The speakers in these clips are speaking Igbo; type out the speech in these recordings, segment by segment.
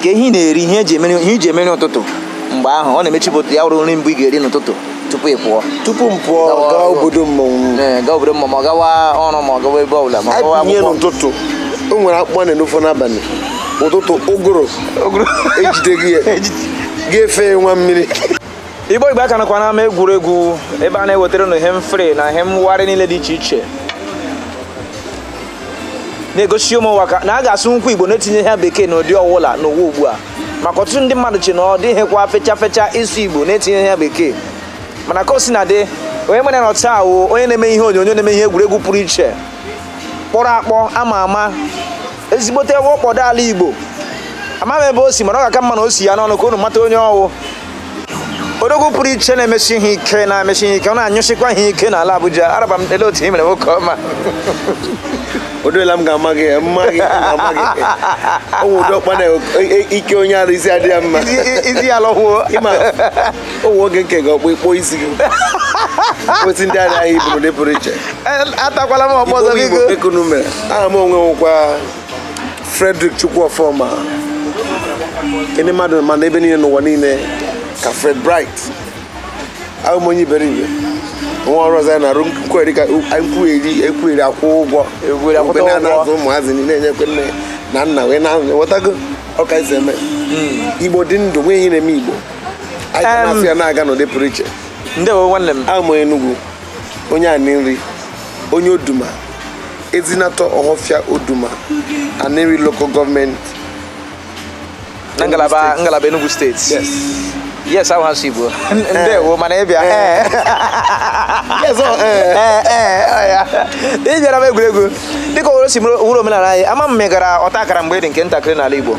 ka ehi na-eri ihe e ji emeri ụtụtụ mgbe ahụ ọ na-emechipụta ya wụrụ nri mbụ ị ga-eri n'ụtụtụ tupu ị pụọ tupu m pụọ Gawa gaa ọrụ. obodo mmọnwụ Ee, gaa obodo ma ma ọ gawa ọrụ ma ọ gawa ebe ọbụla ma ọ gawa abịnye akwụkwọ n'ụtụtụ o nwere akpụkpọ na n'ofe n'abalị ụtụtụ ụgụrụ ejide gị ya ga-efe nwa mmiri Igbo Igbo aka nakwa n'ama egwuregwu ebe a na-ewetara unu ihe mfere na ihe mwagharị niile dị iche iche na-egosi ụmụ ụwa na a ga-asụnwukwa Igbo na-etinyeghị bekee n'ụdị ọwụla n'ụwa ugbu a maka ọtụtụ ndị mmadụ che na ọ dịghịkwa fecha fecha ịsụ Igbo na-etinyeghị bekee mana ka o si na dị onye m nwere na taa wụ onye na-eme ihe onyonyo na-eme ihe egwuregwu pụrụ iche kpọrọ akpọ a ma ama ezigbote ọkpọdo ala Igbo ama m ebe o si mana ọ ga-aka mma na o si ya n'ọnụ ka unu mata onye ọ wụ odogwu pụrụ iche na-emesi ihe ike ọ na-anyụsikwa ihe ike n'ala Abuja araba m ele otu i mere nwoke ọma odola m ga-ama gị mma gị ga-ama gị ụmụ ụdị ọkpa na ike onye ara isi adịghị mma isi ya lọkwuo ịma ụmụ oge nke gị ọkpụ ịkpọ isi gị kwesị ndị adịghị iburu dị pụrụ iche atakwala m ọgbọ ọzọ biko aha m onwe nwekwa Frederick Chukwuofoma ndị mmadụ ma m n'ebe niile n'ụwa niile ka Fred Bright abụ m onye iberibe nwa ọrụ ọzọ ya na-arụ nkwugheri ka nkwugheri ekwugheri akwụ ụgwọ Ekwugheri akwụta Mgbe na-ana ụgwọ. azụ ụmụazị niile na-enyekwe nne na nna wee na-enwetago ọ ka e si eme igbo dị ndụ nwee ihe na-eme igbo anyị ga Em. na-asụ ya na-aga n'ụdị pụrụ iche ndewo nwanne m awụ m onye Enugu onye Aninri onye Oduma Ezinatọ Ọhọfịa Oduma Aninri local government na ngalaba Enugu steeti yes yes ahụ asụ Igbo ndewo mana ịbịa ee yes ọ ee ee ee ọ ya ị bịara ama egwuregwu dịka owere si wụrụ omenala anyị ama m ma ị gara ọta akara mgbe ị dị nke ntakịrị n'ala Igbo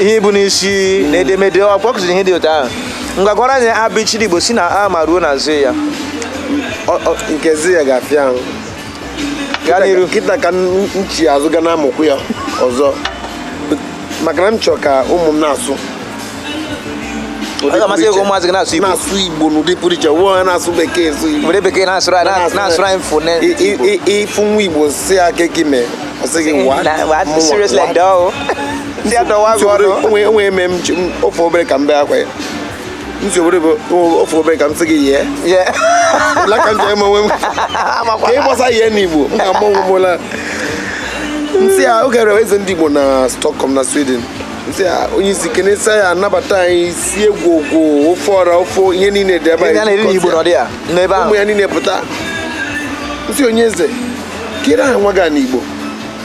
ihe ibu n'isi na edemede ọ kpọkụziri ihe dị otu ahụ ngwa gụọrọ anyị abịchịdị igbo si na a ma ruo na zee ya nke zee ya ga-afịa ahụ gaa n'iru kịta ka m chi azụ ga na-amụkwu ya ọzọ maka na m chọrọ ka ụmụ m na-asụ amasị ego ụmụazị gị na-asụ igbo na-asụ igbo n'ụdị pụrụ iche wụọ ya na-asụ bekee asụ igbo were bekee na-asụrụ anyị na-asụrụ anyị fone ị fụ nwa igbo sị ya kee ka i mee Ọ sị gị, "What?" Na- what? Mụnwa, Seriously, "What?" dọọ. Si adọwa gị ọnụ. onwe onwe eme m ji- m- ofe obere ka m bee akwa ya nsogbu bụ o- ofe obere ka m sị gị yie Yeah. la ka m ji eme onwe m Amakwa. ka ị gbasa ihe n'igbo m ga-ama onwe m ụla nsị ya oge rere eze ndị igbo na stockholm na sweden nsị ya onye isi kenesa ya anabata anyị sie ngwọngwọ ofe ọra ofe ihe niile dị ebe Ndị a na-eri n'Igbo nọ dị ya n'ebe ahụ. ụmụ ya niile pụta nsị onye eze kedu aha nwa gị a n'igbo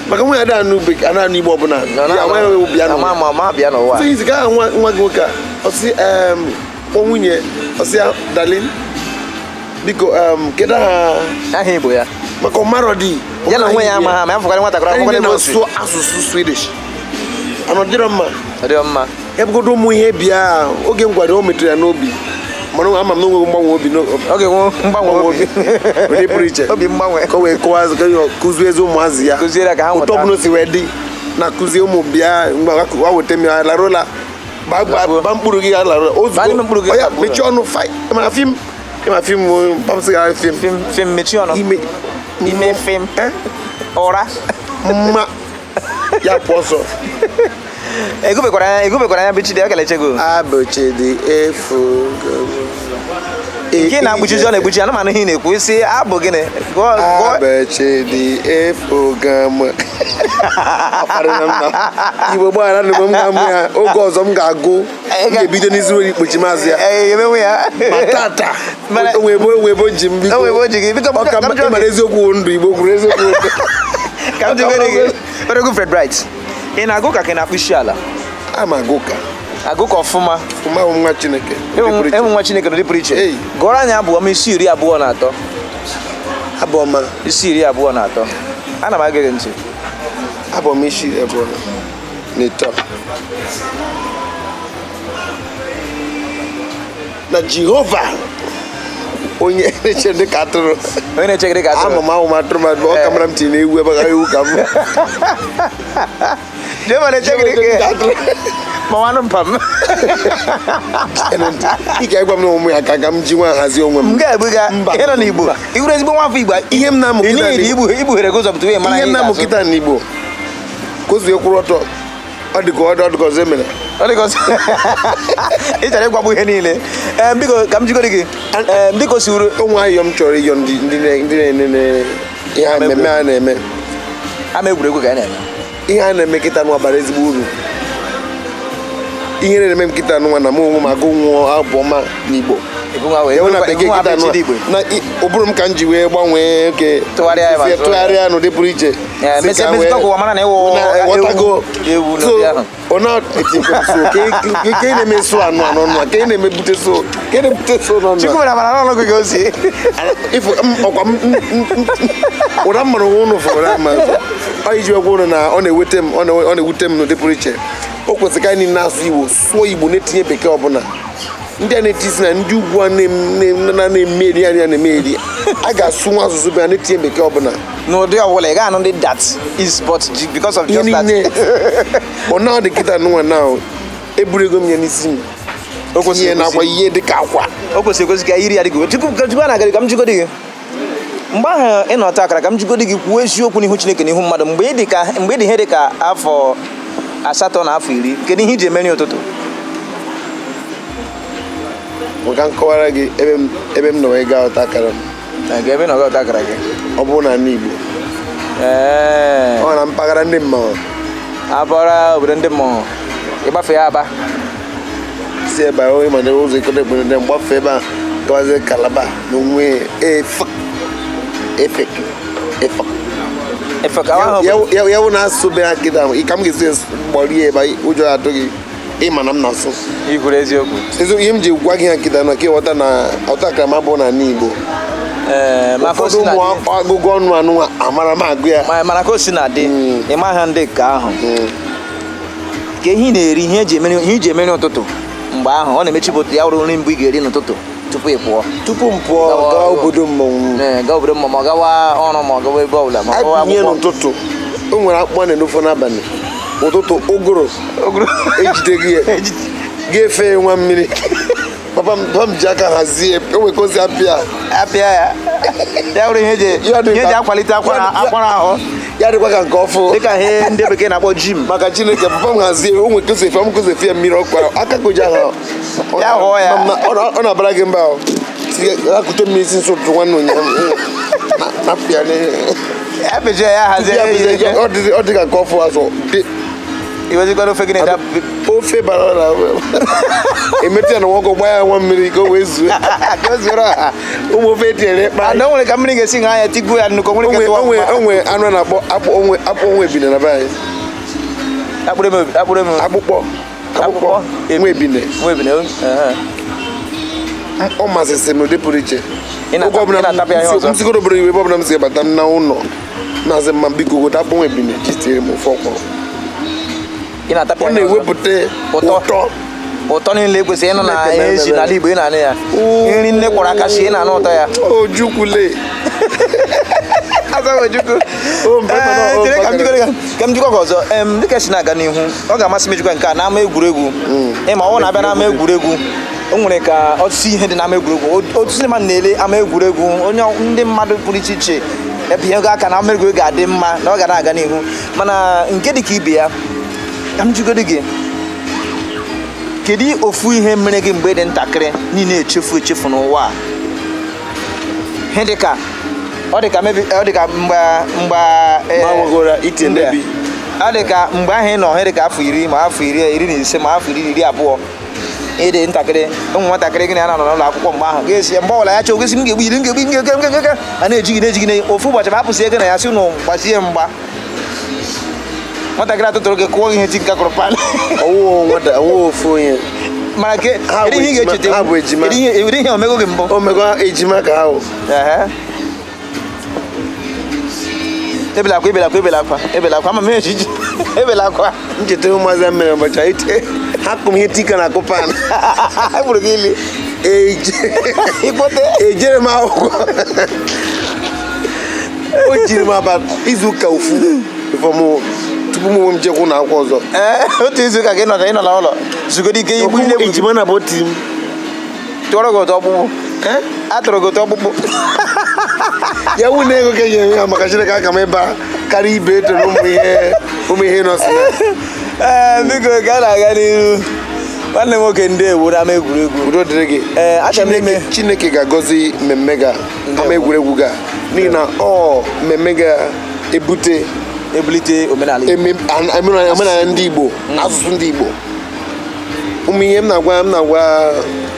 maka nwa ya da anụ bekee anụ anụ igbo ọbụla ya nwa ya wee bịa n'ụwa ma ma bịa n'ụwa sị izi ka aha nwa nwa gị nwoke a ọ sị em kpọ nwunye ọ sị ya darling biko em kedu aha aha igbo ya maka ọ marọdị ya na onwe ya ama ha ma ya fụkwara nwatakịrị akwụkwọ anyị n'ebe o si na-asụ asụsụ swedish na ọ dịrọ mma ọ dị mma ebugodo ụmụ ihe bịa oge m gwara o metụrụ ya n'obi mana ama m na onweghị mgbanwe obi ọ ga-enwe mgbanwe obi onye pụrụ iche obi mgbanwe ka o wee kụzie ezi ụmụazị ya otu ọbụla o si wee dị na kụzie ụmụ bịa mgbe ha weta m ya larụla ba mkpụrụ gị larụla ozugbo ya mechie ọnụ mana fim ma fim pamsị gara fim fim mechie ọnụ ime fim ụra mma ya pụ ọsọ egubekwara egubekwara anya bichidi ọ keleche gị abụchidi efu nke na-ekpuchizi ọ na-ekpuchi ọnụ m anụ ihe ị na-ekwu ị sị abụ gịnị gụọ gụọ abụchidi efu gam Igbo gbagharanụ m ga-amụ ya oge ọzọ m ga-agụ Anyị ga- ga-ebido n'izu were ikpochi maazị ya Ee, emewe ya ma tata Mana- o nwe ebe o nwe ebe o ji m biko O nwe ebe o ji gị biko ọ ka ka m jụọ mara gị- eziokwu wụ ndụ igbo kwuru eziokwu wụ ndụ. ka m jụgoro gị Odogwu Fred Bright ị na-agụ ka ka ị na-akpụ isi ala ama m agụka agụka ọfụma ọfụma bụ nwa chineke n'ụdị pụrụ iche. enwe nwa chineke n'ụdị pụrụ iche Ei. gụọrọ anyị abụ ọma isi iri abụọ na atọ abụ ọma isi iri abụọ na atọ ana m ege gị ntị abụ ọma isi abụọ na atọ na jehova onye na-eche m dị ka atụrụ onye na-eche gị dị ka atụrụ amahụ m atụrụ ma ọ kamara m tinye ewu ebe ahụ ewu ka m jehova na-eche gị dị ka atụrụ ma nwanụ mpa m ị ga-agwa m na ụmụ ya ka ka m ji nwa hazie onwe m m ga-egbu ga Mba. ị nọ n'igbo ị wụrụ ezigbo nwa afọ igbo ihe m na-amụ kịta ihe m na-amụ kịta n'igbo kozie kwụrụ ọtọ ọ dị ka ọ dị ka ọzọ emere ọ dị ka ọzọ ị chọrọ ịgwagbu ihe niile Ee, biko ka m jụgoro gị Ee, biko si uru o nwe ayọ m chọrọ ịyọ ndị ndị na- ndị na-enene ihe a mmemme a na-eme ama egwuregwu ka a na-eme ihe a na-eme kịta nwa bara ezigbo uru ihe na-eme m kịta nwa na mụ onwe m agụnwuọ abụ ọma n'igbo Ịgụ nwa wee- Enwe na ịgụ bekee nwa kịta bụ nwa Chidi Igbo. na i- ụbụrụ m ka m ji wee gbanwee oke Tụgharịa ya ma sụọ ya. tụgharịa n'ụdị pụrụ iche ụra mmanụ nwa ụnụ fụrụ na mmanụ ọ iji agwa ụnụ na ọ na-ewute m ọ na-ewute m n'ụdị pụrụ iche o kwesịrị ka anyị na-asụ igbo sụọ igbo na-etinye bekee ọbụla ndị a na-etizi na ndị ugwu a na-emeri anya na-emeri a ga-asụ nwa asụsụ bịa na-etinye bekee ọbụla n'ụdị ọbụla ị ga-anụ ndị that is but because of just that ọ na-adị kịta nwa na eburugo m ya n'isi m o kwesịrị ihe nakwa ihe dị ka akwa o kwesịrị ekwesị ka iri ya dị gị tupu a na-agara ka m jigodi gị mgbe ahụ ị nọ ọta akara ka m jigodi gị kwuo eziokwu n'ihu Chineke n'ihu mmadụ mgbe ị dị ka mgbe ị dị ihe dị ka afọ asatọ na afọ iri kedu ihe i ji emeri ụtụtụ ka m kọwara gị ebe m ebe m nọ wee gaa ọta akara m na ga ebe ị nọ gaa ọta akara gị ọ bụrụ n'ala Igbo ee ọ na mpaghara ndị mmanwụ abụọra obodo ndị mmụọ ị gbafee Aba si ebe ahụ ịma na ụzọ Ikot Ekpene na mgbafe ebe a gawazi Calabar na onwe Efik Efik Efik Efik ya wụ na-asụ be ha kịta ahụ ka m ga-esi kpọrọ ya ebe ụjọ atụ gị ịma na m na-asụ ikwuru eziokwu eziokwu ihe m ji gwa gị ha kịta na ka ịghọta na ọta akara m bụ na ala Igbo Eh, ụfọdụ ọnụ ọgụgụ ọnụ anụ amara m agụ ya mana ka o si na dị hmm. ịma ha ndị nke ahụ hmm. ka ihe ị na-eri ihe eji emeri ihe iji emeri ụtụtụ mgbe ahụ ọ na-emechi bụ ya wụrụ nri mbụ ị ga-eri n'ụtụtụ tupu ị pụọ tupu m pụọ Gawa gaa ọrụ. obodo mmọnwụ Ee, gaa obodo ma ma ọ gawa ọrụ ma ọ gawa ebe ọbụla ma ọ gawa abinye akwụkwọ n'ụtụtụ o nwere akpụkpọ na n'ofe n'abalị ụtụtụ ụgụrụ ejide gị a ga-efe ya nwa mmiri papa m papa m ji aka hazie o nwere ka o si apịa apịa ya ya bụrụ ihe eji Ya dị ihe eji ka- akwalite akwara ya dị- akwara ahụ ya dịkwa ka nke ọfụ dịka ihe ndị bekee na-akpọ gym maka Chineke papa m hazie o nwere ka o si efe m ka o si efe ya mmiri ọkụ ahụ aka ka o ji ahụ ọ- Ya hụọ ya. ma- ma- ọ na- ọ na-abara gị mba ahụ ekute mmiri isi nsọ ụtụtụ nwanne ụnyaahụ Na- napịa n'ihe. ya pịcha ya hazie Ndị a ya bụ ihe. ihe- ọ dị- ọ dị ka nke ọfụ azụ dị iwezikwara ofe gị na-ede ofe bara ọra emetụ ya nwa ọkụ gbaa ya nwa mmiri ka o wee zuo ụmụ ofe etinyere ịkpa na o nwere ka mmiri ga-esi ṅaa ya tigbuo ya nnukwu o nwere ka onwe onwe anụ na-akpọ akpụ onwe akpụ onwe ebine na be anyị akpụrụ eme akpụkpọ akpụkpọ nwa ebine nwa ebine ọ masịrị m n'ụdị pụrụ iche oge ọbụla m sigoro obodo iwe ebe ọbụla m si bata m na ụlọ na-asị mama biko gote akpọnwụ ebine ji tinyere m ofe ọkwụrụ ị na-atapịa ọ ya ọzọ. na-ewepụta Ụtọ. ụtọ ụtọ niile kwesịrị ịnụ na Chineke ihe esi na-emere. n'ala Igbo ị na-anụ ya Oo. nri nne kwọrọ aka sie ị na-anụ ụtọ ya ojukwule Azaghị Ojukwu. O, mba, mba, Ee, o, chere ka m mba, jikọrọ ya. ka m jikwa gị ọzọ Em, dịka esi na-aga n'ihu ọ ga-amasị m ijikwa nke a n'ama egwuregwu ịma ọ na-abịa n'ama egwuregwu o nwere ka ọtụtụ ihe dị n'ama egwuregwu O- otu ndị mmadụ na-ele ama egwuregwu onye ọ- ndị mmadụ pụrụ iche iche ebinyego aka na ama egwuregwu ga-adị mma na ọ ga na-aga n'ihu mana nke dị ka ibe ya ka m jụgodu gị kedu ofu ihe mere gị mgbe ị dị ntakịrị niile echefu echefu n'ụwa a ihe dị ka ọ dị ka maybe ọ dị ka mgbe mgbe eh, Ma nwegoro ite mgbe- maybe. ọ dị ka mgbe ahụ ị nọ ihe dị ka afọ iri ma afọ iri na ise ma afọ iri abụọ ị dị ntakịrị o nwee nwatakịrị gị na ya na-anọ n'ụlọ akwụkwọ mgbe ahụ ga-asị mgbe ọbụla ya chọọ gị sị m ga-egbu gị m ga-egbu ngege ngege a na-eji gị na-eji gị na ofu ụbọchị ma hapụsị gị na ya sị ụnụ gbazie mgba nwatakịrị atụtụrụ gị kụọ ihe tinka kụrụ pan ọwụwa ofu onye mana ke ihe ị ga-echeta ihe o mego gị mbụ o mego ejima ka ahụ ebela akwa ebela akwa ebela akwa ebela akwa ama m ejiji ebela akwa m cheta ụmụazị mere ụbọchị anyị tee ha kụọ m ihe tinka na-akụ pan gburu gị ili ejero m akwụkwọ o jiri m about izu ụka ofu tupu mụ onwe m jekwu na akwụkwọ ọzọ otu izu ụka gị nọcha ị nọ na ụlọ zugoro ike igbu nne ejima na ọ bụ otu m tụọrọ gị ụtọ ọkpụkpụ eh? atụrụ gị ụtọ ọkpụkpụ ya wu na ego ka enye ya maka chineke aka m ebe a karịa ibe eto na ụmụ ihe ụmụ ihe nọ si ya ee eh, biko ka a na-aga n'ihu nwanne m nwoke ndeewo n'ama egwuregwu udo dịrị gị ee eh, achọrọ m ime chineke ga-agọzi mmemme ga ama egwuregwu ga n'ihi na ọ mmemme ga-ebute ebulite omenala ndị igbo asụsụ ndị igbo o nwe ihe m na-agwa m na-agwa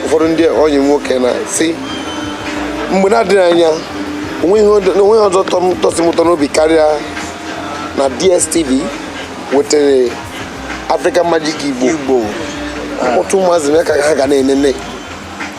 ụfọdụ ndị ọyị nwoke na si mgbe na-adịghị anya onweghị ọzọ tọsị m ụtọ n'obi karịa na DSTV wetara African Magic Igbo ọtụtụ ụmụazị mee ka ha ga na-enene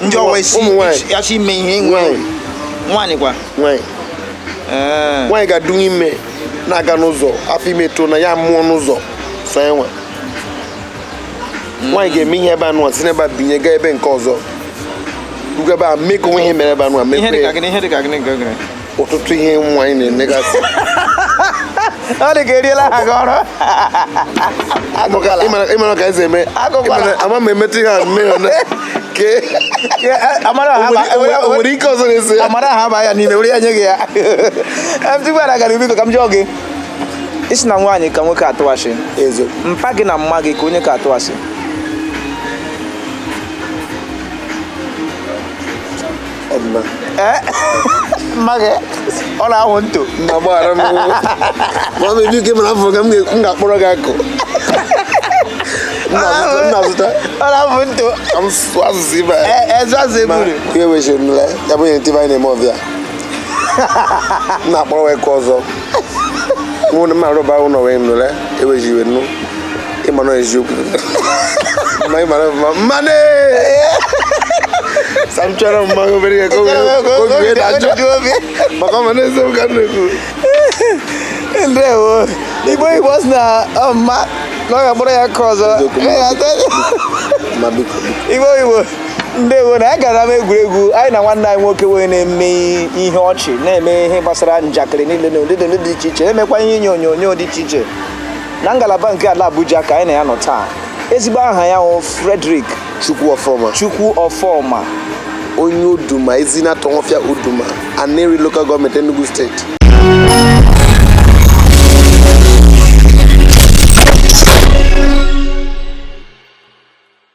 ndị ọwa isi ụmụ nwaanyị ya chi ime ihe nwe nwaanyị kwa nwaanyị eh. nwaanyị ga-adụ ime na-aga n'ụzọ afọ ime too na ya mụọ n'ụzọ so e nwee nwaanyị ga-eme ihe ebe anụ si n'ebe a binye gaa ebe nke ọzọ rugo ebe a mee ka o nwe ihe mere ebe anụ a mekwe ọtụtụ ihe nwaanyị na-emegasị ọ dị ka eriela ha gị ọrụ ị mara ka e si eme ama m emetụ ihe a mme nwere ike ọzọ na-esi ya amara ha ba ya n'ime were ya nye gị ya tupu ara gara biko ka m jụọ gị ị sị na nwaanyị ka nwoke atụ ashị mpa gị na mma gị ke onye ka atụ ashị mma gị ọ na-ahụ nto na gbaghara m ma ọ bụ ebi ike mara afọ ka m ga-akpọrọ gị akụ nnazụta ọ na-ahụ nto asụsụ ibe ezu azụ eburu ya ewechi nle ya bụ ihe ntị anyị na-eme ọbịa na-akpọrọ wee kụ ọzọ mụ na mma arụba ụlọ wee nụle ewechi iwe nnu ịmara eziokwu ma ịmara mma mmanụ sam chọrọ mma obere ya ka obi wee dajụ maka ọ ma n'eziokwu ka m na-ekwu ndewo igbo igbo si na ọmma na ọ ga-akpọrọ ya nke ọzọ igbo igbo ndewo na ya gara m egwuregwu anyị na nwanne anyị nwoke wee na-eme ihe ọchị na-eme ihe gbasara njakịrị niile n'ụdị dị iche iche na-emekwa ihe inye onyonyo dị iche iche na ngalaba nke ala Abuja ka anyị na ya nọ taa ezigbo aha ya wụ Frederick Chukwu Ọfọma Chukwu Ọfọma onye Oduma Ezinatọ Ohofia Oduma Aninri Local Gọọmenti Enugu Steeti